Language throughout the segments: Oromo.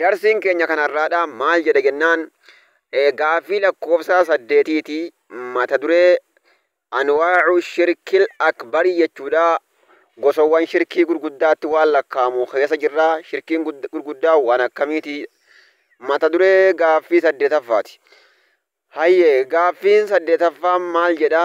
Darsiin keenya kan har'aadhaa maal jedha jennaan gaaffii lakkoofsaa saddeetiiti mata duree anwaa'u shirkil akbarii jechuudha gosawwan shirkii gurguddaatti waan lakkaa'amu keessa jirra shirkiin gurguddaa waan akkamiiti mata duree gaaffii saddeetaffaati hayyee gaaffiin saddeetaffaan maal jedha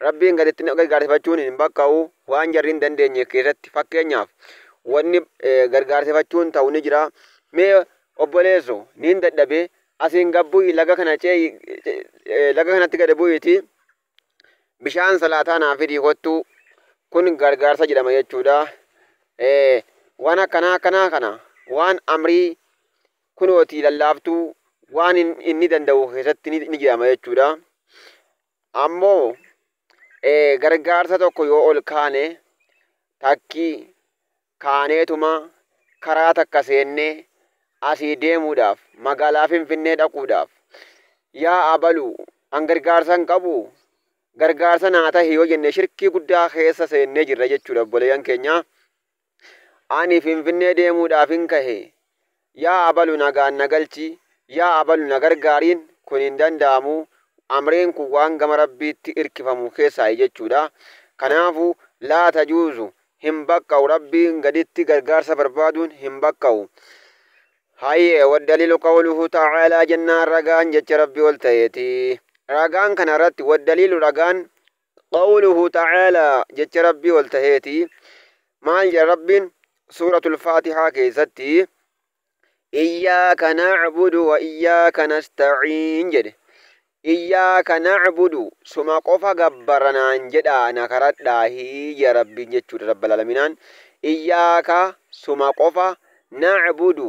Rabbiin gaditti nama gargaarsifachuun hin bakka'u. Waan jarri hin dandeenye keessatti fakkeenyaaf wanni gargaarsifachuun ta'u ni jira. Mee obboleesso niin dadhabe asiin gad bu'i laga kana cee'i laga kanatti gad bu'iiti bishaan salaataa naa fidii kottuu kun gargaarsa jedhama jechuudha. Waan akkanaa akkanaa kana waan amrii kunooti lallaaftuu waan inni danda'u keessatti ni jedhama jechuudha. Ammoo gargaarsa tokko yoo ol kaane takki kaaneetuma karaa takka seennee asii deemuudhaaf magaalaa Finfinnee dhaquudhaaf yaa abalu an gargaarsa hin qabu gargaarsa naa tahi yoo jenne shirkii guddaa keessa seennee jirra jechuudha obboleeyyan keenyaa. Ani Finfinnee deemuudhaafin kahe. Yaa abalu nagaan na galchi, yaa abalu na gargaariin kun hin danda'amu, amreen kun waan gama Rabbiitti irkifamu keessaayi jechuudha. Kanaafu, laa tajuuzu, hin baqqa'u, Rabbiin gaditti gargaarsa barbaaduun hin baqqa'u. Hayyee, waddaliilu qawluhu ta'aalaa jennaan ragaan jecha Rabbii ol ta'eeti. Ragaan kanarratti, waddaliilu ragaan, Qawluhu ta'aala jecha Rabbii ol taheeti maal jedha Rabbiin suuratul faatihaa keessatti iyyaaka na'budu wa iyyaaka nasta'iin jedhe iyyaaka na'budu suma qofa gabbara naan jedhaa na karadhaahii jedha Rabbiin jechuudha rabbal alaminaan iyyaaka suma qofa na'budu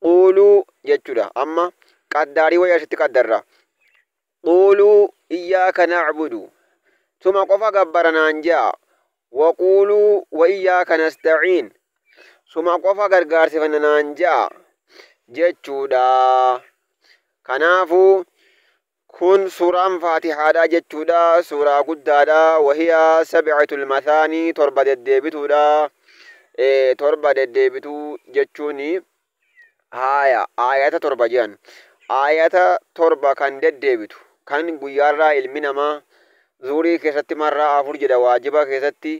Quuluu jechuudha. Amma qaddaarii wayii asitti qaddarra. Quuluu iyyaaka na'budu. Suma qofa gabbara naan ja'a. Waquuluu wa iyyaaka nasta'iin. Suma qofa gargaarsifanna naan ja'a jechuudha. Kanaafuu Kun suuraan faatihaadha jechuudha, suuraa guddaadha, wahiya sab'atul mathaanii torba deddeebituudha, torba deddeebituu jechuun haaya aayata torba jedhan, aayata torba kan deddeebitu kan guyyaarraa ilmi namaa zuurii keessatti marraa afur jedha waajiba keessatti,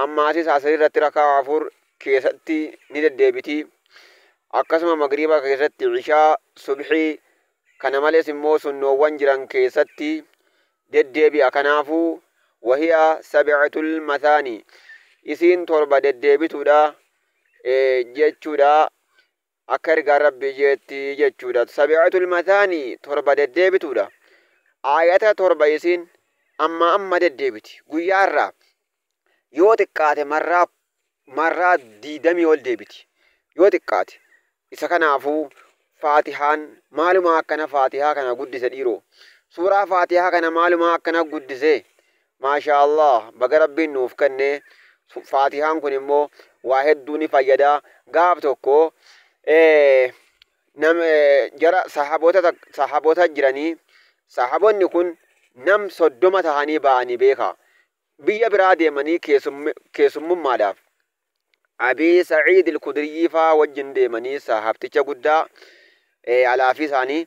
Ammaasis Asrii irratti raka'aa afur keessatti ni deddeebiti. Akkasuma Magriiba keessatti, Ishaa, Subhii, kana malees immoo sunnoowwan jiran keessatti deddeebi'a. Kanaafuu, wahiya sab'atul mathaanii, isiin torba deddeebituudha jechuudha. Akka ergaan Rabbii je'etti jechuudha. Sabi'atul mathaanii torba deddeebituudha. Aayata torba isiin ammaa amma deddeebiti. Guyyaa irraa yoo xiqqaate marraa marraa diidamii ol deebiti. Yoo xiqqaate. Isa kanaafuu faatihaan maalumaa akkana faatihaa kana guddise dhiiroo. Suuraa faatihaa kana maalumaa akkana guddise. Maashaa Allaah baga Rabbiin nuuf kenne Faatihaan kun immoo waa hedduu ni fayyada gaaf tokko nam jara sahaboota sahaboota jiranii sahabonni kun nam soddoma tahanii ba'anii beeka biyya biraa deemanii keessummummaadhaaf Abii Sa'iid Al-Khudriyyii faa wajjin deemanii saahabticha guddaa, alaafii isaanii,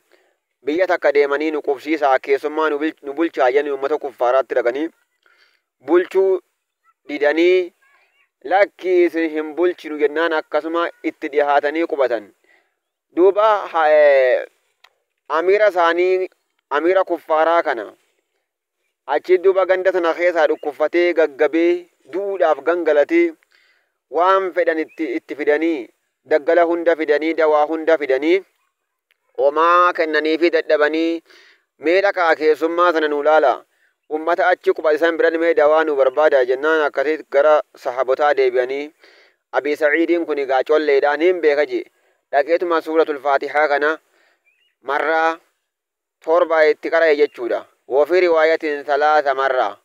biyya takka deemanii nu qubsiisaa, keessummaa nu bulchaa jedhanii ummata kuffaaraatti dhaqanii bulchuu didanii lakkii isin hin bulchinu jennaan akkasuma itti dhihaatanii qubatan. Duuba amiira isaanii amiira kuffaaraa kana Achiin duuba ganda tana keessaa dhukkuffatee gaggabee du'uudhaaf gangalatee waan fedhan itti itti fidanii daggala hunda fidanii dawaa hunda fidanii homaa kennaniifii dadhabanii mee dhaqaa keessummaa sana nuu laala ummata achi qubatisan biran mee dawaa nuu barbaada jennaan akkasii gara sahabotaa deebi'anii abii sa'iidiin kun egaa colleedha niin beeka jee dhaqeetuma suuratul faatihaa kana marraa torba itti qara'e jechuudha. Wa fi riwaayatin salaasa marra.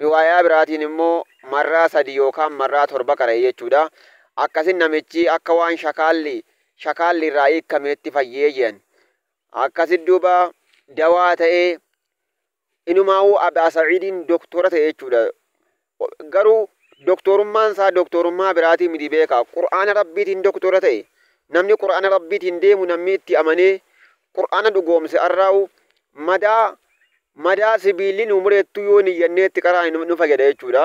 Riwaayaa biraatiin immoo marraa sadi yookaan marraa torba qara'e jechuudha. Akkasin namichi akka waan shakaalli shakaalli irraa hiikkameetti fayyee je'an. Akkasit duuba dawaa ta'ee Inumaawuu Abaa Sa'iidiin doktoora ta'e jechuudha. Garuu doktoorummaan isaa doktoorummaa biraatii miti beekaa. Qur'aana Rabbiitiin doktoora ta'e. Namni Qur'aana Rabbiitiin deemu namni itti amanee Qur'aana dhugoomse arraawu madaa madaa sibiilli nu mureettuu yoo niyyannee itti qaraane nu fayyada jechuudha.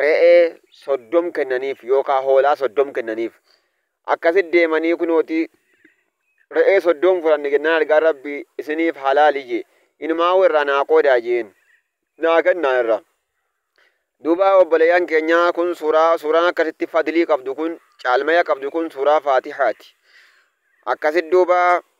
re'ee soddom kennaniif yookaan hoolaa soddom kennaniif. Akkasitti deemanii kunooti re'ee soddom fudhanne jennaan argaan rabbi isiniif halaali jee inumaa'uu irraa naa qoodaa jeen naa kennaa irra. Duuba obboleeyyan keenyaa kun suuraa suuraan akkasitti fadlii qabdu kun caalmaya qabdu kun suuraa faatihaati. Akkasitti duuba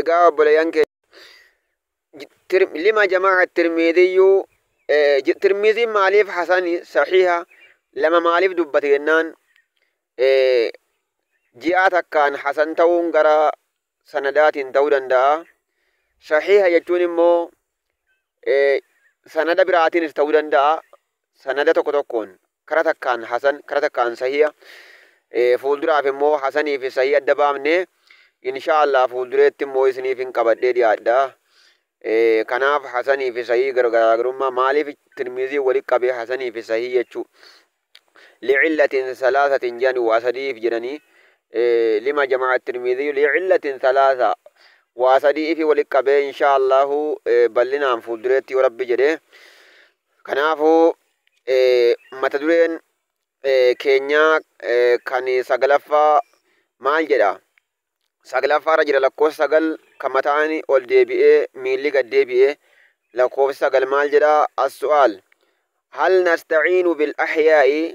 egaa obboleeyyan keenya Tir- lima jamaa tirmiidiyyuu eh, j- tirmiidiin maaliif hasani sahiha lama maaliif dubbate jennaan eh, ji'aa takkaan hasan ta'uun gara sanadaatiin ta'uu danda'a sahiha jechuun immoo eh, sanada biraatiinis ta'uu danda'a sanada tokko tokkoon kara takkaan hasan kara takkaan sahiya fuulduraaf immoo hasanii fi sahii adda baafne insha Allah fuuldureetti immoo isiniif hin qabadhee dhiyaadha kanaaf hasanii fi sahii garaagarummaa maaliif tirmiizii walitti qabee hasanii fi sahii jechuu licillatin salaasatin jedhani waa sadiif jedhanii lima jamaa tirmiizii licillatin salaasa waa sadii ifi walitti qabee insha Allahu bal'inaan fuuldureetti yoo rabbi jedhee kanaafuu Mata dureen keenyaa kan saglaffaa maal jedha? Saglaffaa irra jira lakkoofsa sagal kan mataan ol deebi'ee miilli gad deebi'ee lakkoofsa sagal maal jedha? As-su'aal hal nasta'iinu bil ahyaa'i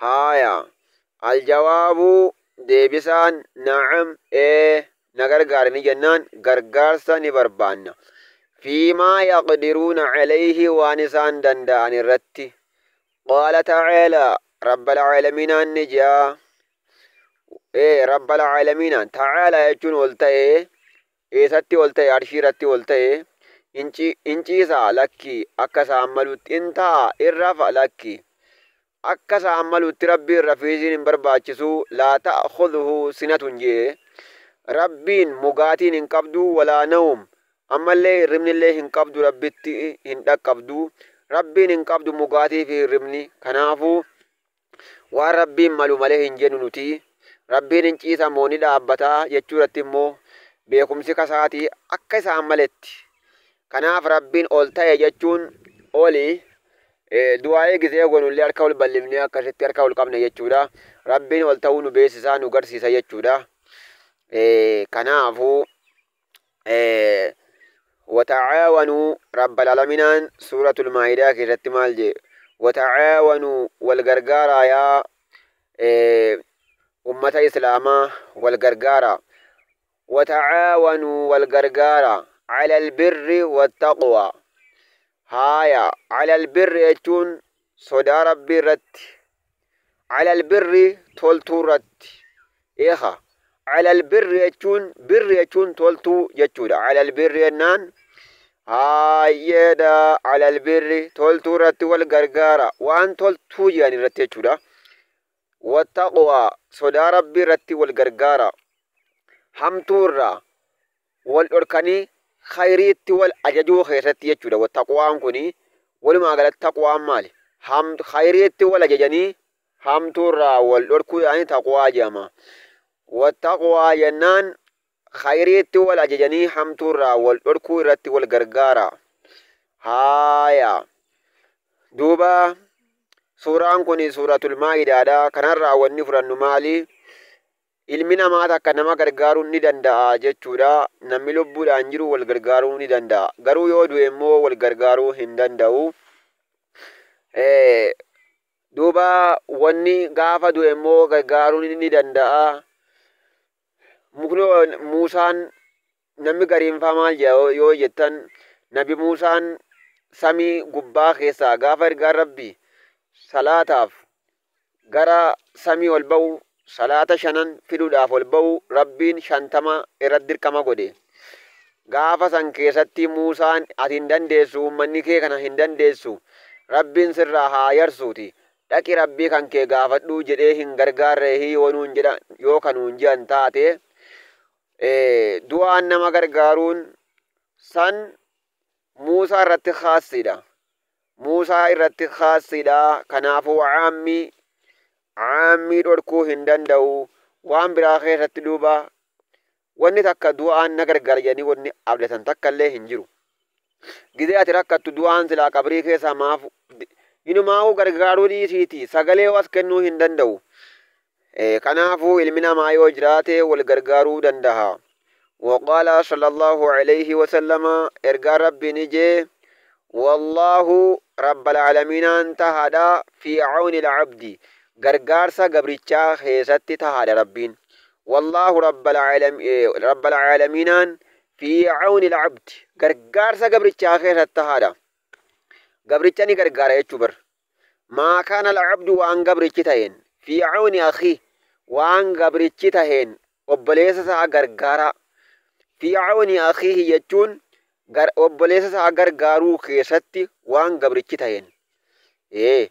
Haaya. Aljawaabu, Deebisaan, Na'am, Ee, na gargaari ni jennaan, gargaarsa ni barbaanna. Fii maa yaqdiruuna calayhi waan isaan danda'an irratti. Qaala ta'aalaa, Rabbal Caalamiinaan ni je'a. Ee, Rabbal Caalamiinaan, ta'aalaa jechuun ol ta'ee, Eesatti ol ta'e? Arshii irratti ol ta'e. In ci, in ciisa? Lakki. Akka isa ammaluutti. In taa'a? In rafa? Lakki. Akka isa ammaluutti Rabbiin rafiisiin hin barbaachisu. Laa ta'khudhuhu sinatun je'e. Rabbiin mugaatiin hin qabdu, walaa nawm. Ammallee hirribnillee hin qabdu Rabbitti hin dhaqqabdu. Rabbiin hin qabdu mugaatii fi hirribni. Kanaafuu Waan Rabbiin malu malee hin jennu nuti. Rabbiin hin ciisa moo ni dhaabbata jechuu irratti immoo beekumsi kasaati akka isaan maletti. Kanaaf Rabbiin ol ta'e jechuun oli du'aa'ii gizee goonu illee harka ol bal'ifnee akkasitti harka ol qabna jechuudha. Rabbiin ol ta'uu nu beeksisaa nu garsiisa jechuudha. Kanaafuu wata'aawanuu rabbal alaminaan suuratul maa'idaa keessatti maal jee wata'aawanuu wal gargaaraa yaa ummata islaamaa wal gargaaraa wata'aawanuu wal gargaaraa calal birri wattaqwaa haaya calal birri jechuun sodaa Rabbii irratti, ala al-birri toltuu irratti, eekha, ala al-birri jechuun, birri jechuun toltuu jechuudha, ala al-birri jennaan haayyeedha, ala al-birri toltuu irratti wal gargaara, waan toltuu jedhan irratti jechuudha. Wattaqwaa sodaa Rabbii irratti wal gargaara, hamtuu irraa wal dhorkanii khayriitti wal ajajuu keessatti jechuudha. Wa taqwaan kuni walumaa galatti taqwaan maali? Ham khayriitti wal ajajanii hamtuurraa wal dhorkuu yaa'anii taqwaa jedhama. Wa taqwaa jennaan khayriitti wal ajajanii hamtuurraa wal dhorkuu irratti wal gargaara. Haaya. Duuba suuraan kuni suuratul maa'idaadha. Kanarraa wanni fudhannu maali? Ilmi namaa takka nama gargaaruu ni danda'a jechuudha. Namni lubbuudhaan jiru wal gargaaruu ni danda'a. Garuu yoo du'e immoo wal gargaaruu hin danda'u. Duuba wanni gaafa du'e immoo gargaaruu ni danda'a. Mukni Muusaan Namni gariin faa maal jedha yoo jettan nabi Muusaan samii gubbaa keessaa gaafa ergaan rabbii salaataaf gara samii ol ba'u salaata shanan fiduudhaaf ol ba'u rabbiin shantama irratti dirqama godhe. Gaafa san keessatti Muusaan ati hin dandeessu uummanni kee kana hin dandeessu rabbiin sirraa haa yarsuuti dhaqi rabbii kan kee gaafadhuu jedhee hin gargaarreehi yoo nuun jedha yoo ka nuun jedhan taate du'aan nama gargaaruun san Muusaa irratti khaassidha. Muusaa irratti khaassidha. Kanaafuu caammi caammii dhorkuu hin danda'u. Waan biraa keessatti duuba wanni takka du'aan na gargaara jedhanii wanni abdatan takka illee hin jiru. Gizee ati rakkattu du'aan silaa qabrii keessaa maaf inumaa'uu gargaaruu dhiisiiti sagalee as kennuu hin danda'u. Kanaafuu ilmi namaa yoo jiraate wal gargaaruu dandaha. Waqaala sallallahu alayhi wasallama ergaan Rabbii ni jee Wallaahu rabbal aalamiinaan tahaadha fi awnil abdi gargaarsa gabrichaa keessatti tahaadha Rabbiin. Wallaahu rabbal aalamiinaan fi awnil abdi gargaarsa gabrichaa keessatti tahaadha. Gabricha ni gargaara jechuu bar. Maa kaana al-abdu waan gabrichi taheen, fii cawni akhiih, waan gabrichi taheen obboleessa isaa gargaaraa, fii cawni akhiihi jechuun gar, obboleessa isaa gargaaruu keessatti waan gabrichi taheen. Ee.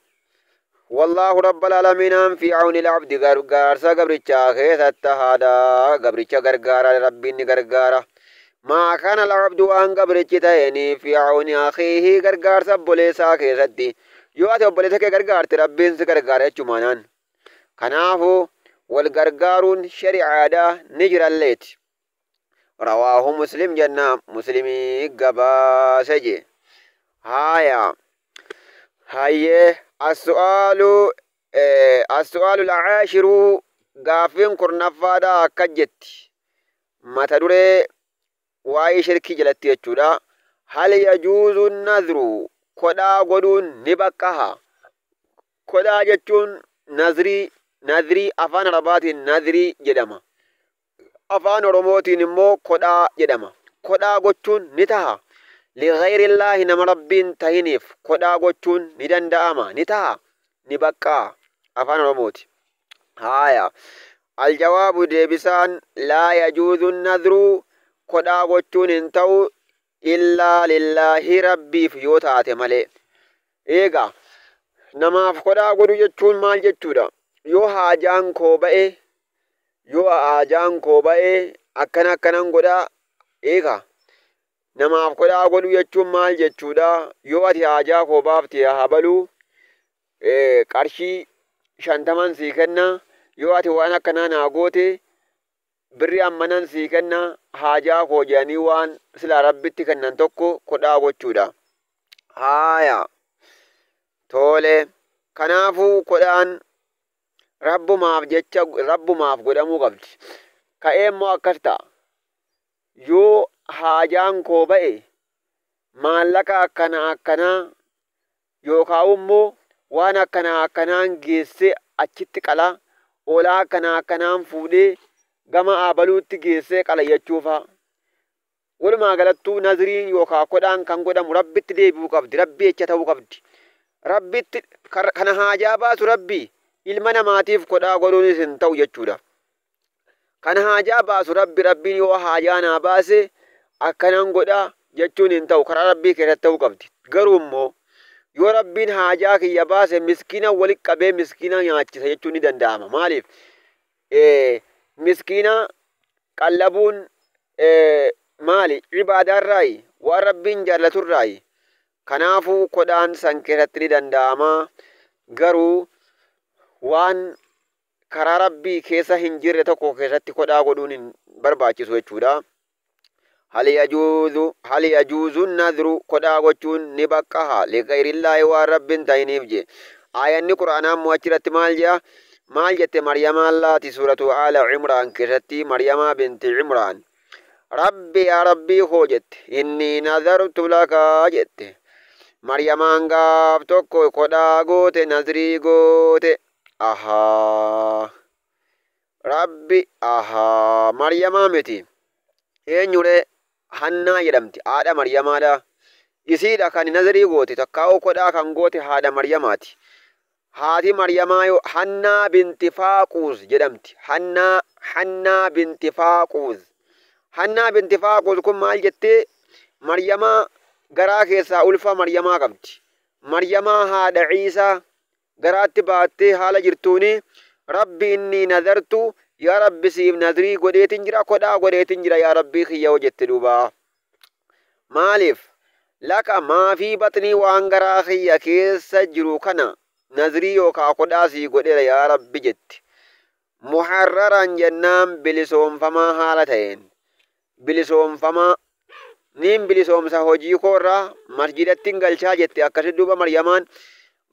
Wallaahu rabbal alamiinaan fii cawni al-abdi gargaarsa gabrichaa keessatti tahaadha. Gabricha gargaara, Rabbiin ni gargaara. Maa kaana al-abdu waan gabrichi ta'een fi awni akhiihi gargaarsa obboleessaa keessatti yoo ati obboleessa kee gargaarte rabbiin si gargaara jechumaanaan kanaafu wal gargaaruun shari'aadha ni jiralleeti rawaahu muslim jenna muslimii gabaase je haaya hayyee as-su'aalu as-su'aalu al-aashiru gaaffiin kurnaffaadha akka jetti Mata duree waa'ee shirkii jalatti jechuudha. Hal yajuuzu nadru kodhaa godhuun ni baqqaha. Kodhaa jechuun nazrii nadrii afaan arabaatiin nadrii jedhama. Afaan oromootiin immoo kodhaa jedhama. Kodhaa gochuun ni taha. Ligayrillaahi nama rabbiin tahiniif kodhaa gochuun ni danda'ama ni taha ni baqqaa afaan oromooti. Haaya. Aljawaabu deebisaan laa yajuuzu nadru kodhaa gochuun hin ta'u illaa lillaahi rabbiif yoo taate malee. Eega namaaf kodhaa godhu jechuun maal jechuudha? Yoo haajaan koo ba'e yoo haajaan koo ba'e akkana akkanan godha eega namaaf kodhaa godhu jechuun maal jechuudha? Yoo ati haajaa koo baafte haa balu qarshii shantaman sii kenna, yoo ati waan akkanaa naa goote birri ammanan sii kenna haajaa koo jedhanii waan silaa rabbitti kennan tokko kodhaa gochuudha. Haaya. Toole. Kanaafuu kodhaan rabbumaaf jecha rabbumaaf godhamuu qabdi. Ka'ee immoo akkas ta'a. Yoo haajaan koo ba'e maallaqa akkana akkanaa Yookaa'u immoo waan akkanaa akkanaan geessee achitti qala, hoolaa akkanaa akkanaan fuudhee gama Aabaluutti geessee qala jechuu fa'a. Walumaa galattuu nazriin yookaa kodhaan kan godhamu Rabbitti deebi'uu qabdi, Rabbii jecha ta'uu qabdi. Rabbitti kan haajaa baasu Rabbi, ilma namaatiif kodhaa godhuunis hin ta'u jechuudha. Kan haajaa baasu Rabbi, Rabbiin yoo haajaa naa baase akkanan godha jechuun hin ta'u, karaa Rabbii keessatti ta'uu qabdi. Garuu immoo yoo Rabbiin haajaa kiyya baase miskiina walitti qabee miskiina nyaachisa jechuun ni danda'ama. Maaliif? Miskiina qallabuun maali? Ibaadaarraayi, waan Rabbiin jaallaturraayi. Kanaafuu kodaan san keessatti ni danda'ama. Garuu waan karaa Rabbii keessa hin jirre tokko keessatti kodhaa godhuun hin barbaachisu jechuudha. Hal yajuuzu hal yajuuzu nadru kodhaa gochuun ni baqqaha liqayrillaahi waan Rabbiin ta'iniif je. Aayanni Qur'aanaa immoo achirratti maal jea? Maal jette Maryamaan laati suuratu Aala Imraan keessatti Maryamaa binti Imraan Rabbi yaa Rabbii koo jette inni nazartu laka jette. Maryamaan gaaf tokko kodhaa goote nazrii goote Ahaa. Rabbi Ahaa. Maryamaa miti. Eenyuree? Hannaa jedhamti. Haadha Maryamaadha. Isiidha kan nazirii goote takkaa'uu kodhaa kan goote haadha Maryamaati. Haati Maryamaayo Hannaa binti Faaquuz jedhamti. Hannaa Hannaa binti Faaquuz. Hannaa binti Faaquuz kun maal jettee? Maryamaa garaa keessaa ulfa Maryamaa qabdi. Maryamaa haadha Ciisaa garaatti baattee haala jirtuun Rabbi innii nadartu yaa Rabbi siif nadrii godheetin jira kodhaa godheetin jira yaa Rabbii kiyya hoo jette duuba maaliif laka maafii baxnii waan garaa kiyya keessa jiru kana nadrii yookaa kodhaa sii godheera yaa Rabbi jetti Muharraraan jennaan bilisoomfamaa haala ta'een, bilisoomfamaa, niin bilisoomsa hojii koo irraa, masjidattin galchaa jette akkasi duuba Maryamaan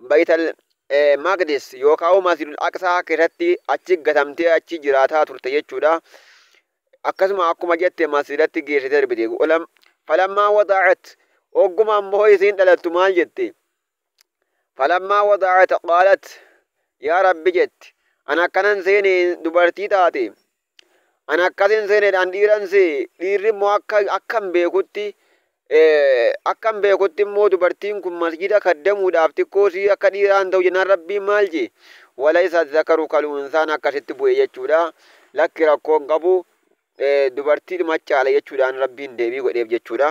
Baytal Maqdis yookaa'u Masjidul Aqsaa keessatti achi gatamtee achi jiraataa turte jechuudha. Akkasuma akkuma jette masjidatti geessite darbite. Falammaa wada'at ogguma ammoo isiin dhalattu maal jette? Falammaa wada'at qaalat yaa Rabbi jetti an akkanan seene dubartii taate an akkasin seene an dhiiran see dhiirri immoo akka akkan beekutti akkan beekutti immoo dubartiin kun masjida kaddamuudhaaf xiqqoo sii akka dhiiraan ta'u jennaan rabbiin maal jee walaysa zakaru kal unsaan akkasitti bu'e jechuudha lakki rakkoon qabu dubartii dhuma caala jechuudhaan rabbiin deebii godheef jechuudha.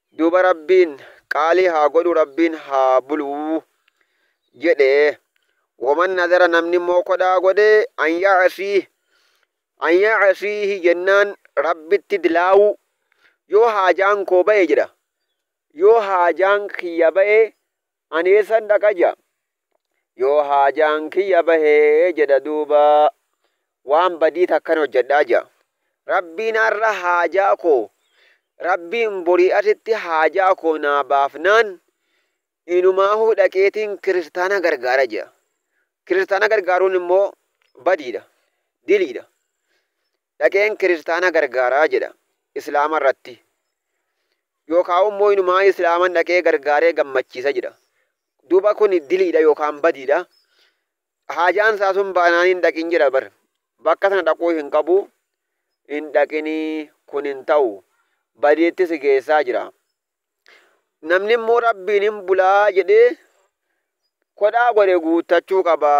Duuba Rabbiin, Qaalii haa godhuu Rabbiin haa buluu. jedhe. Waman nadara namni immoo kodhaa godhe an ya'asiih an ya'asiihi jennaan Rabbitti dilaawuu yoo haajaan koo ba'e jedha yoo haajaan kiyya ba'e Ani eessan dhaqa ja'a? Yoo haajaan kiyya bahe jedha duuba waan badii takkan hojjadha ja'a. Rabbiin arra haajaa koo Rabbiin borii artitti haajaa koo naa baafnaan inumaahuu dhaqeetiin kiristaana gargaara ja'a. Kiristaana gargaaruun immoo badiidha, diliidha. Dhaqeen kiristaana gargaara jedha islaama irratti yookaa ummoo inumaa islaaman dhaqee gargaaree gammachiisa jedha duuba kun diliidha yookaan badiidha haajaan isaa sun baanaan hin dhaqin jedha bar bakka sana dhaquu hin qabu hin dhaqinii kun hin ta'u badiitti si geessaa jira Namni immoo rabbiin hin bulaa jedhee kodhaa godhe guuttachuu qaba.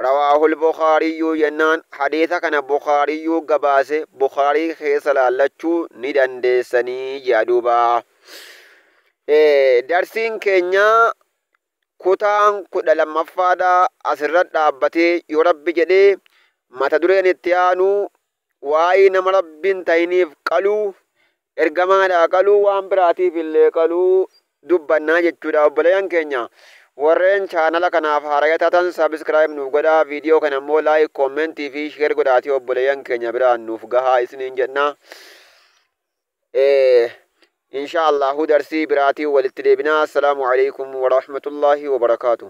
Rawaahul Bukaariyyuu jennaan hadiisa kana Bukaariyyuu gabaase Bukaarii keessa laallachuu ni dandeessanii jea duuba. Darsiin keenya kutaan kudha lammaffaadha asirra dhaabbatee yoo rabbi jedhee mata dureen itti aanu Waa'ee nama Rabbi hin ta'iniif qaluu, ergamaadhaa qaluu, waan biraatiif illee qaluu dubbannaa jechuudha. Obboleeyyan keenya warreen chaanala kanaaf haaraya taatan subscribe nuuf godhaa, viidiyoo kana immoo like, comment fi share godhaatii obboleeyyan keenya biraan nuuf gahaa isiniin jenna. Inshaa Allahu darsii biraatiin walitti deebinaa. Assalaamu alaikum wa rahmatullahi wa barakaatuh.